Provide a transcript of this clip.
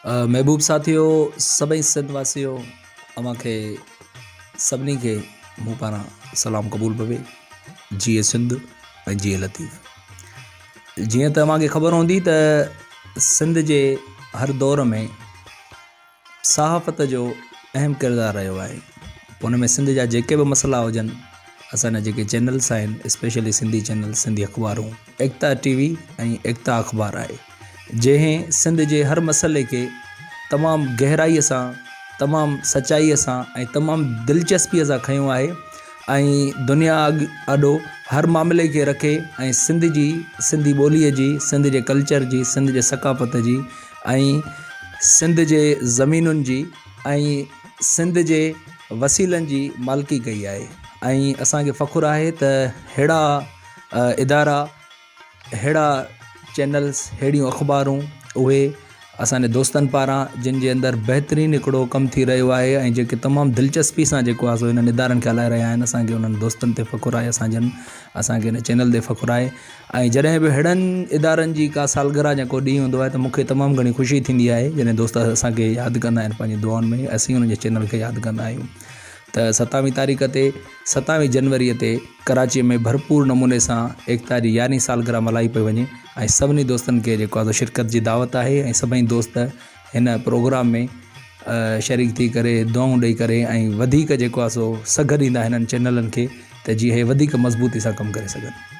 محبوب ساٿيو سڀئي سنڌ واسيو اوهان کي سڀني کي مون پاران سلام قبول بوي جيئي سنڌ ۽ جيئي لطيف جيئن ته اوهان کي خبر هوندي ته سنڌ جي هر دور ۾ صحافت جو اهم ڪردار رهيو آهي پوء ان ۾ سنڌ جا جيڪي به مسئلا هجن اسان جا جيڪي چينلس آهن اسپيشلي سنڌي چينلس سنڌي اخبارون ايڪتا ٽي وي ۽ ايڪتا اخبار آهي جنهن سنڌ جي هر مسئلي کي تمام گهرائي سان تمام سچائي سان ۽ تمام دلچسپي سان کنيو آهي ۽ دنيا آڏو هر معاملي کي رکي ۽ سنڌ جي سنڌي ٻولي جي سنڌ جي ڪلچر جي سنڌ جي ثقافت جي ۽ سنڌ جي زمينن جي ۽ سنڌ جي وسيلن جي مالڪي ڪئي آهي ۽ اسانکي فخر آهي ته ههڙا ادارا ههڙا چينلس ههڙيون اخبارون اهي اسانجي دوستن پاران جن جي اندر بهترين هڪڙو ڪم ٿي رهيو آهي ۽ جيڪي تمام دلچسپي سان جيڪو آهي سو انهن ادارن کي هلائي رهيا آهن اسانکي انهن دوستن تي فخر آهي اسانجن اسانکي ان چينل تي فخر آهي ۽ جڏهن به اهڙن ادارن جي ڪا سالگرهه يا ڪو ڏينهن هوندو آهي ته مون کي تمام گهڻي خوشي ٿيندي آهي جڏهن دوست اسان کي ياد ڪندا آهن پنهنجي دعائن ۾ اسين انهن جي چينل کي ياد ڪندا آهيون ته ستاويهه تاريخ تي ستاويهه جنوري تي ڪراچي ۾ ڀرپور نموني سان ايڪتا جي يارهين سالگرهه ملهائي پئي وڃي ۽ سڀني دوستن کي جيڪو آهي شرڪت جي دعوت آهي ۽ سڀئي دوست هن پروگرام ۾ شريڪ ٿي ڪري دعائون ڏئي ڪري ۽ وڌيڪ جيڪو آهي سو سگهه ڏيندا هنن چينلن کي ته جي هي وڌيڪ مضبوطي سان ڪم ڪري سگهن